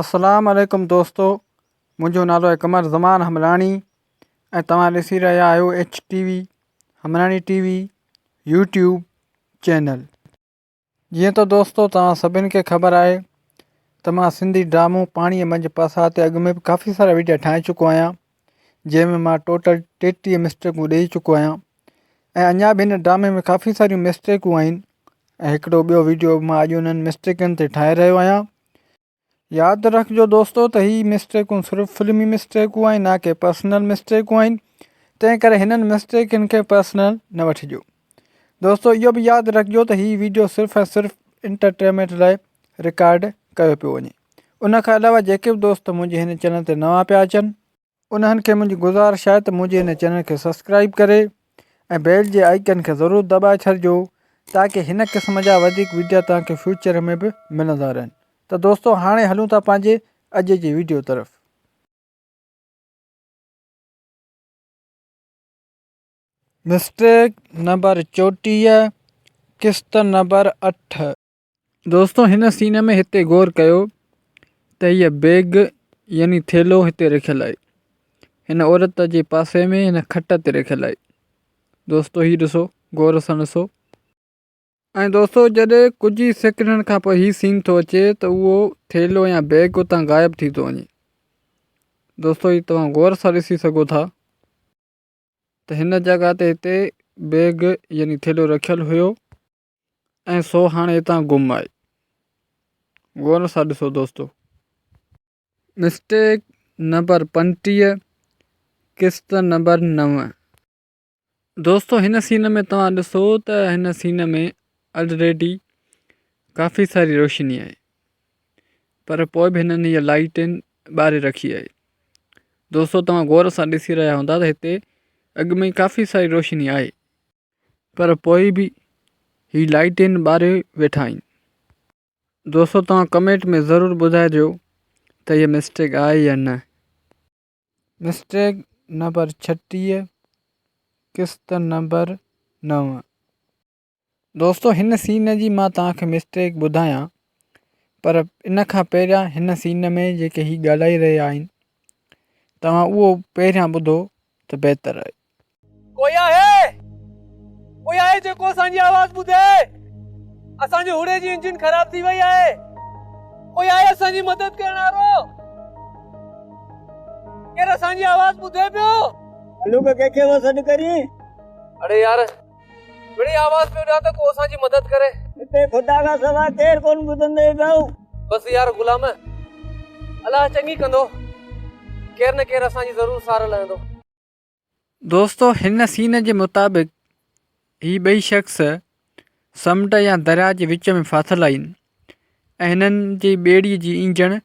اسلام عليڪم دوستو منهنجو نالو آهي قمر زمان حمراڻي ۽ توهان ڏسي رهيا آهيو H T V Hamrani T V YouTube channel جيئن ته دوستو توهان سڀني کي خبر آهي ته مان سنڌي ڊرامو پاڻيء منجهه پاسا تي اڳ ۾ به ڪافي سارا وڊيا ٺاهي چڪو آهيان جنهن ۾ مان ٽوٽل ٽيٽيهه مسٽيڪون ڏيئي چڪو آهيان ۽ اڃا به هن ڊرامي ۾ ڪافي ساريون مسٽيڪون آهن ۽ هڪڙو ٻيو وڊيو به مان اڄ انهن مسٽيڪن تي ٺاهي رهيو آهيان ياد رکجو دوستو ته هي مسٽيڪون صرف فلمي مسٽيڪون آهن نه ڪي پرسنل مسٽيڪون آهن تنهن ڪري هنن مسٽيڪن کي پرسنل نه وٺجو دوستو اهو به ياد رکجو ته هي ويڊيو صرف ۽ صرف انٽرٽينمينٽ لاء رڪارڊ ڪيو پيو وڃي ان کان علاوه جيڪي به دوست منهنجي هن چينل تي نوان پيا اچن انهن کي منهنجي گذارش آهي ته منهنجي هن چينل کي سبسڪرائيب ڪري ۽ بيل جي آئيڪن کي ضرور دٻائي ڇڏجو تاڪه هن قسم جا وڌيڪ وڊيا توهان کي فيوچر ۾ به ملندا رهن ته دوستو هاڻي هلون ٿا پنهنجي اڄ جي وڊيو طرف. مسٽيڪ نمبر چوٽيهه قسط نمبر اٺ. دوستو هن سين ۾ هتي غور ڪيو ته هيء بيگ يعني ٿيلهو هتي رکيل آهي هن عورت جي پاسي ۾ هن کٽ تي رکيل آهي دوستو هي ڏسو غور سان ڏسو ۽ دوستو جڏهن ڪجهه ئي سيڪنڊن کان پوء هي سين ٿو اچي ته اهو ٿيلهو يا بيگ اتان غائب ٿي ٿو وڃي دوستو هي توهان غور سان ڏسي سگهو ٿا ته هن جڳهه تي هتي بيگ يعني ٿيلهو رکيل هيو ۽ سو هاڻي هتان گم آهي. غور سان ڏسو دوستو. مسٽيڪ نمبر پنجٽيهه قسط نمبر نو. دوستو هن سين ۾ توهان ڏسو ته هن سين ۾ الريڊي ڪافي ساري روشني آهي پر پوء به هنن هيء لائيٽين ٻاري رکي آهي. دوستو توهان غور سان ڏسي رهيا هوندا ته هتي اڳ ۾ ئي ڪافي ساري روشني آهي. پر پوء به هي لائيٽين ٻاري ويٺا آهن. دوستو توهان ڪمينٽ ۾ ضرور ٻڌائجو ته هي مسٽيڪ آهي يا نه. مسٽيڪ نمبر ڇٽيهه قسط نمبر نو. دوستو هن سين جي مان توهان کي مسٽيڪ ٻڌايان پر ان کان پهريان هن سين ۾ جيڪي هي ڳالهائي رهيا آهن توهان اهو پهريان ٻڌو ته بهتر آهي. ڪوئي آهي ڪوئي آهي جيڪو اسان جي آواز ٻڌي اسان جي هوڙي جي انجن خراب ٿي وئي آهي ڪوئي آهي اسان جي مدد ڪرڻ وارو ڪير اسان جي آواز ٻڌي پيو. هلو ڪنهن کي ٿو سڏ ڪرين. اڙي يار. مڙئي آواز پيو ڏيان ته ڪو اسان جي مدد ڪري. هتي خدا کان سواء ڪير ڪونه ٻڌندئي ڳئو. بس يار غلام، الله چڱي ڪندو، ڪير نه ڪير اسان جي ضرور سار لهندو. دوستو هن سين جي مطابق هي ٻئي شخص سمنڊ يا درياء جي وچ ۾ ڦاٿل آهن ۽ هنن جي ٻيڙي جي انجڻ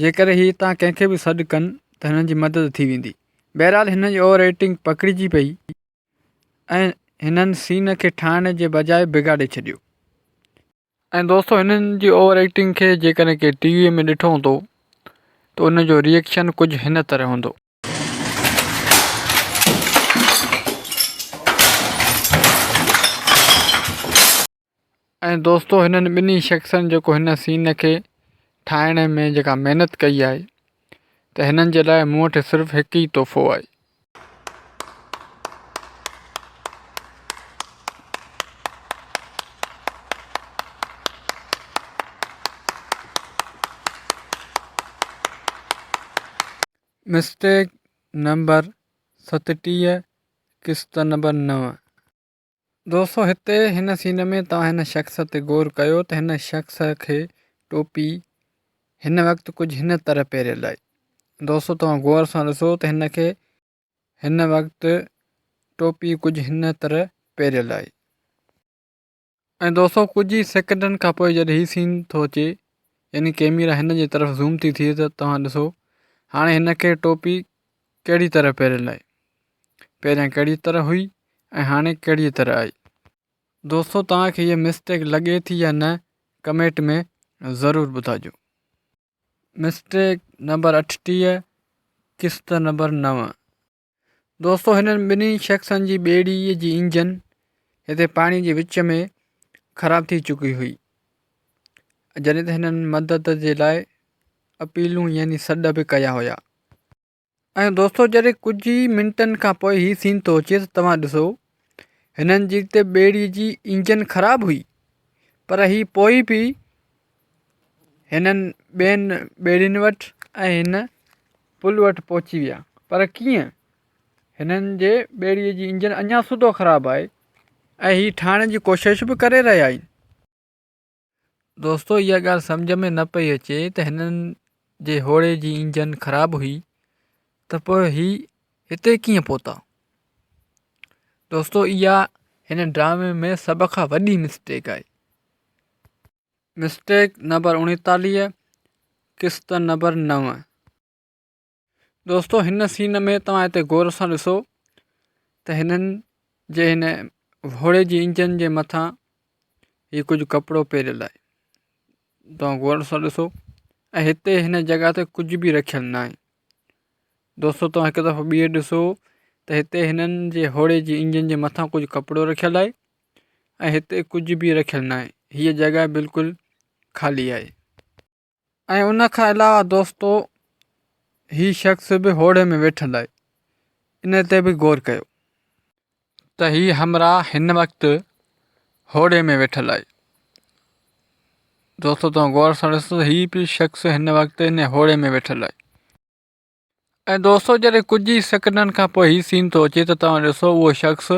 جيڪڏهن هي اتان ڪنهن کي به سڏ ڪن ته هنن جي مدد ٿي ويندي. بهرحال هنن جي اوور ايٽنگ پڪڙجي پئي ۽ هنن سين کي ٺاهڻ جي بجاء بگاڙي ڇڏيو. ۽ دوستو هنن جي اوور ايٽنگ کي جيڪڏهن ڪنهن ٽي ويء ۾ ڏٺو هوندو ته ان جو ري ايڪشن ڪجهه هن طرح هوندو. ۽ دوستو هنن ٻنهي شخصن جيڪو هن سين کي ٺاهڻ ۾ جيڪا محنت ڪئي آهي ته هنن جي لاء مون وٽ صرف هڪ ئي تحفو آهي مسٽيڪ نمبر ستٽيهه قسط نمبر نو. دوستو هتي هن سين ۾ توهان هن شخص تي غور ڪيو ته هن شخص کي ٽوپي هن وقت ڪجهه هن طرح پهريل آهي دوستو توهان غور سان ڏسو ته هن کي هن وقت ٽوپي ڪجهه هن طرح پهريل آهي. ۽ دوستو ڪجهه ئي سيڪنڊن کان پوء جڏهن هي سين ٿو اچي يعني ڪيميرا هن جي طرف زوم ٿي ٿئي ته توهان ڏسو هاڻي هن کي ٽوپي ڪهڙي طرح پهريل آهي پهريان ڪهڙي طرح هئي ۽ هاڻي ڪهڙي طرح آهي دوستو توهان کي هيء مسٽيڪ لڳي ٿي يا نه ڪميٽ ۾ ضرور ٻڌائجو مسٽيڪ نمبر اٺٽيهه قسط نمبر نو دوستو هنن ٻنهي شخصن جي ٻيڙي جي انجن هتي پاڻي جي وچ ۾ خراب ٿي چڪي هئي جڏهن ته هنن مدد جي لاء اپيلون يعني سڏ به ڪيا هيا ۽ دوستو جڏهن ڪجهه ئي منٽن کان پوء هي سين ٿو اچي ته توهان ڏسو هنن جي ته ٻيڙي جي انجن خراب هئي پر هي پوء به هنن ٻين ٻيڙين وٽ ۽ هن پل وٽ پهچي ويا پر ڪيئن هنن جي ٻيڙي جي انجن اڃا سڌو خراب آهي ۽ هي ٺاهڻ جي ڪوشش به ڪري رهيا آهن دوستو اها ڳالهه سمجهه ۾ نه پئي اچي ته هنن جي هوڙي جي انجن خراب هئي ته پوء هي هتي ڪيئن پهتا. دوستو اها هن ڊرامي ۾ سڀ کان وڏي مسٽيڪ آهي. مسٽيڪ نمبر اڻيتاليهه قسط نمبر نو. دوستو هن سين ۾ توهان هتي غور سان ڏسو ته هنن جي هن گهوڙي جي انجن جي مٿان هي ڪجهه ڪپڙو پيريل آهي توهان غور سان ڏسو ۽ هتي هن جڳهه تي ڪجهه به رکيل ناهي دوستو توهان هڪ دفعو ٻيهر ڏسو ته هتي هنن جي گهوڙي جي انجن جي مٿان ڪجهه ڪپڙو رکيل آهي ۽ هتي ڪجهه به رکيل ناهي هيء جڳهه بلڪل خالي آهي ۽ ان کان علاوه دوستو هي شخص به هوڙي ۾ ويٺل آهي ان تي به غور ڪيو ته هي همراهه هن وقت هوڙي ۾ ويٺل آهي دوستو توهان غور سان ڏسو هي به شخص هن وقت ان هوڙي ۾ ويٺل آهي ۽ دوستو جڏهن ڪجهه ئي سيڪنڊن کان پوء هي سين ٿو اچي ته توهان ڏسو اهو شخص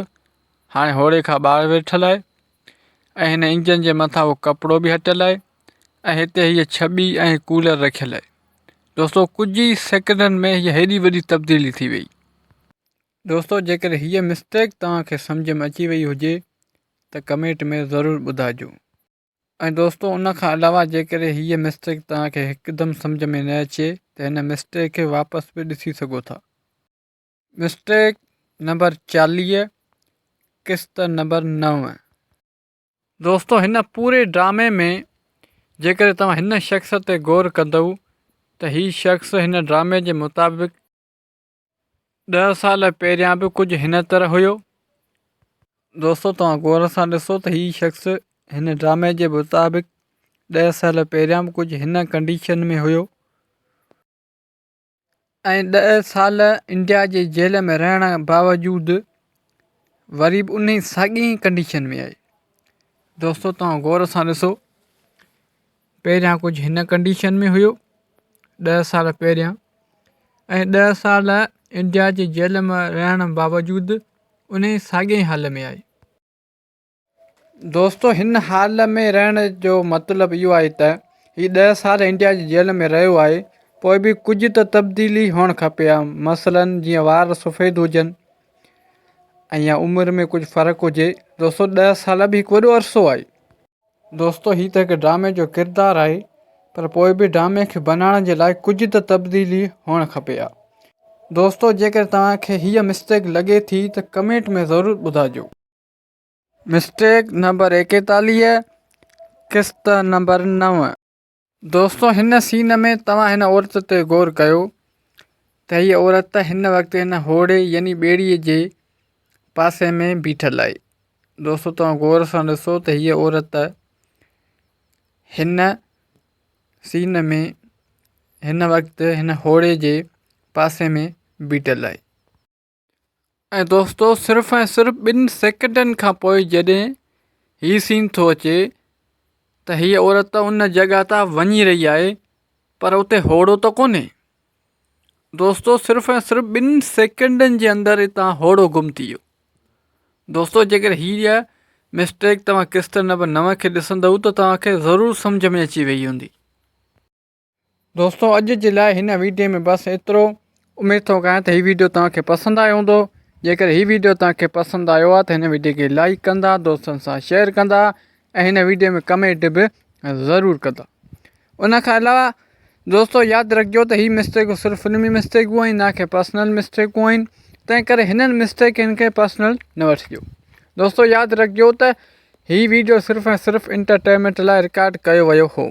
هاڻي هوڙي کان ٻاهر ويٺل آهي ۽ هن انجن جي مٿان اهو ڪپڙو به هٽيل آهي ۽ هتي هيء ڇٻي ۽ ڪولر رکيل آهي دوستو ڪجهه ئي سيڪنڊن ۾ هيء هيڏي وڏي تبديلي ٿي وئي دوستو جيڪڏهن هيء مسٽيڪ توهان کي سمجهه ۾ اچي وئي هجي ته ڪمينٽ ۾ ضرور ٻڌائجو. ۽ دوستو ان کان علاوه جيڪڏهن هيء مسٽيڪ توهان کي هڪدم سمجهه ۾ نه اچي ته هن مسٽيڪ کي واپس به ڏسي سگهو ٿا. مسٽيڪ نمبر چاليهه قسط نمبر نو. دوستو هن پوري ڊرامي ۾ جيڪڏهن توهان هن شخص تي غور ڪندؤ ته هي شخص هن ڊرامي جي مطابق ڏهه سال پهريان به ڪجهه هن طرح هيو. دوستو توهان غور سان ڏسو ته هي شخص هن ڊرامي جي مطابق ڏهه سال پهريان به ڪجهه هن ڪنڊيشن ۾ هيو ۽ ڏهه سال انڊيا جي جيل ۾ رهڻ باوجود وري به انهي ساڳئي ڪنڊيشن ۾ آهي دوستو توهان غور سان ڏسو پهريان ڪجهه هن ڪنڊيشن ۾ هيو ڏهه سال پهريان ۽ ڏهه سال انڊيا جي جيل ۾ رهڻ باوجود ان ئي ساڳئي حال ۾ آهي دوستو هن حال ۾ رهڻ جو مطلب اهو آهي ته هي ڏهه سال انڊيا جي جيل ۾ رهيو آهي پوء به ڪجهه ته تبديلي هئڻ کپي ها مثلاً جيئن وار سفيد هجن ۽ يا عمر ۾ ڪجهه فرق هجي دوستو ڏهه سال به هڪ وڏو عرصو آهي دوستو هي ته هڪ ڊرامي جو ڪردار آهي پر پوء به ڊرامي کي بنائڻ جي لاء ڪجهه ته تبديلي هئڻ کپي ها دوستو جيڪڏهن توهان کي هيء مسٽيڪ لڳي ٿي ته ڪمينٽ ۾ ضرور ٻڌائجو. مسٽيڪ نمبر ايڪيتاليهه قسط نمبر نو. دوستو هن سين ۾ توهان هن عورت تي غور ڪيو ته هيء عورت هن وقت هن هوڙي يعني ٻيڙي جي پاسي ۾ بيٺل آهي دوستو توهان غور سان ڏسو ته هيء عورت هن سين ۾ هن وقت هن هوڙي جي پاسي ۾ بيٺل آهي ۽ دوستو صرف ۽ صرف ٻن سيڪنڊن کان پوء جڏهن هي سين ٿو اچي ته هيء عورت ان جڳهه تان وڃي رهي آهي پر اتي هوڙو ته ڪونهي دوستو صرف ۽ صرف ٻن سيڪنڊن جي اندر اتان هوڙو گم ٿي ويو دوستو جيڪر هيء مسٽيڪ توهان ڪسٽر نمبر نو کي ڏسندؤ ته توهان کي ضرور سمجهه ۾ اچي وئي هوندي دوستو اڄ جي لاء هن ويڊيو ۾ بس ايترو اميد ٿو ڪيان ته هي ويڊيو توهان کي پسند آيو هوندو جيڪڏهن هي ويڊيو توهان کي پسند آيو آهي ته هن ويڊيو کي لائڪ ڪندا دوستن سان شيئر ڪندا ۽ هن ويڊيو ۾ ڪمينٽ به ضرور ڪندا ان کان علاوه دوستو ياد رکجو ته هي مسٽيڪون صرف فلمي مسٽيڪون آهن نه ڪي پرسنل مسٽيڪون آهن تنهن ڪري هنن مسٽيڪن کي پرسنل نه وٺجو دوستو ياد رکجو ته هي ويڊيو صرف ۽ صرف انٽرٽينمينٽ لاء رڪارڊ ڪيو ويو هو